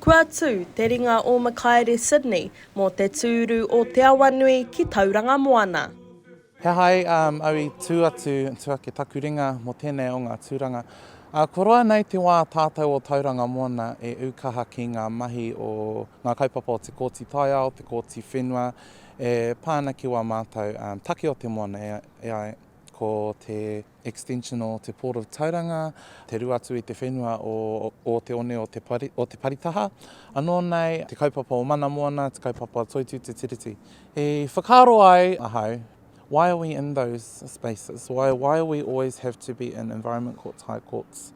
Kua tū te ringa o Makaere Sydney mō te tūru o Te Awanui ki Tauranga Moana. He aha ai au i tū atu, tū ake taku ringa mō tēnei o ngā tūranga? Ko roa nei te wā tātou o Tauranga Moana e ū kaha ki ngā mahi o ngā kaupapa o te Kōti Taiao, te Kōti Whenua e pā ana ki wā mātou take o te moana, e ai ko te. extension o te Port of Tauranga, te rua atu i te whenua o o te one o te pari, o te paritaha. Anō nei, te kaupapa o Mana Moana, te kaupapa o Toitū Te Tiriti. I whakaaro ai ahau, why are we in those spaces? Why, why are we always have to be in environment courts, high courts?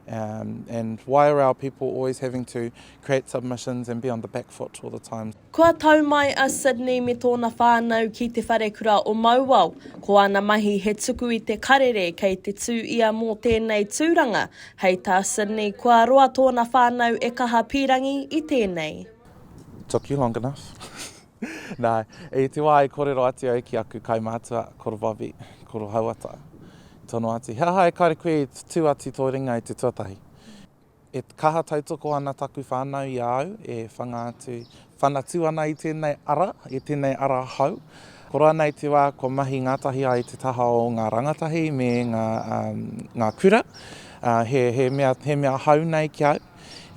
Um, and why are our people always having to create submissions and be on the back foot all the time? Kua tau mai a Sydney me tōna whānau ki Te Wharekura o Mauao. Ko āna mahi he tuku i te karere kei te tū ia mō tēnei tūranga. Hei tā Sydney, kua roa tōna whānau e kaha pīrangi i tēnei. Took you long enough. Nā, i te wā i kōrero atu au ki aku kaumātua, koro Bobby, koro Hauata, tono atu, he aha e kare koe i tū atu tō ringa i te tuatahi? E kaha tautoko ana taku whānau i a au e whanga atu, whanatu ana i tēnei ara, i tēnei ara hou. Koroa nei te wā kua mahi ngātahi ai te taha o ngā rangatahi me ngā, ngā kura. He, he mea, he mea hou nei ki au.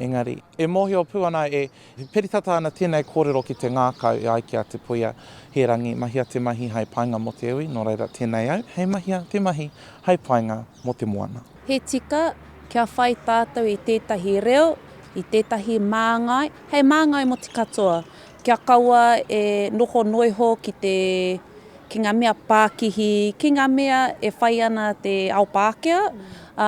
Engari, e mōhio pū ana e. E piri tata ana tēnei kōrero ki te ngākau e ai ki a Te Puea, He rangi, mahia te mahi hai painga mō te iwi, nō reira tēnei au hei mahia te mahi hai painga mō te moana. He tika kia whai tātou i tētahi reo, i tētahi māngai, hei māngai mō te katoa, kia kaua e noho noiho ki te. ki ngā mea pākihi, ki ngā mea e whai ana te ao Pākehā, ā,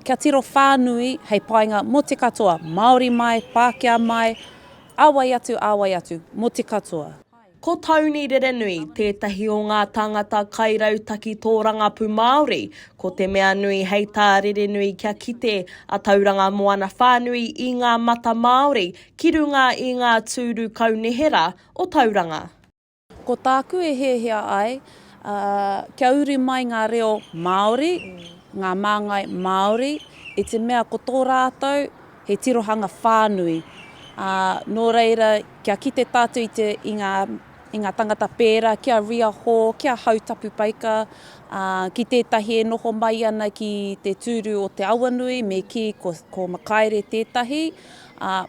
kia tiro whānui hei painga mō te katoa, Māori mai, Pākehā mai, ā wai atu, ā wai atu, mō te katoa. Ko Tony Rerenui tētahi o ngā tāngata kairautaki tōrangapū Māori, ko te mea nui hei tā Rerenui kia kite a Tauranga Moana whānui i ngā mata Māori ki runga i ngā tūru kaunihera o Tauranga. Ko tāku e hiahia ai, ā, kia uri mai ngā reo Māori, ngā māngai Māori, i te mea ko tō rātou he tirohanga whānui. Ā, nō reira, kia kite tātou i te, i ngā, i ngā tangata pērā ki a Ria Hall, ki a Hau Tapu Paika, ā, ki tētahi e noho mai ana ki te tūru o Te Awanui, me kī ko, ko Makaere tētahi, ā,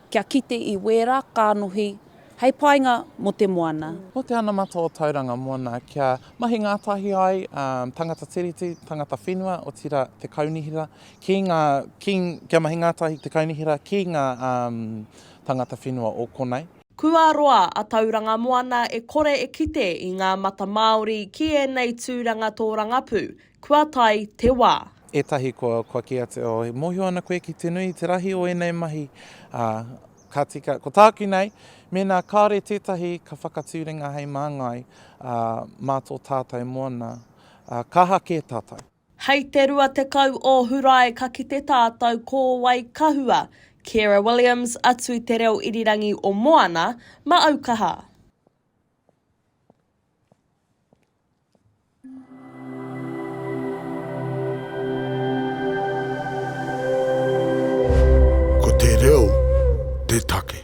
kia kite i wērā kānohi. hei painga mō te moana. Ko te anamata o Tauranga Moana kia mahi ngātahi ai tangata Tiriti, tangata whenua, otirā te kaunihera, ki ngā, ki, kia mahi ngātahi te kaunihera ki ngā tangata whenua o konei. Kua roa a Tauranga Moana e kore e kite i ngā mata Māori ki ēnei tūranga tōrangapū, Kua tae te wā. Etahi kua, kua kī atu, oh, e mohio ana koe ki te nui, te rahi o enei mahi, a, ka tika, ko tāku nei, mēnā kāore tētahi ka whakatūringa hei māngai, a, mā tō tātou moana, a, kaha kē tātou. Hei te 20 o Hurae ka kite tātou ko wai ka hua, Ciara Williams, atu i te reo irirangi o Moana, ma Aukaha. Ko te reo te take.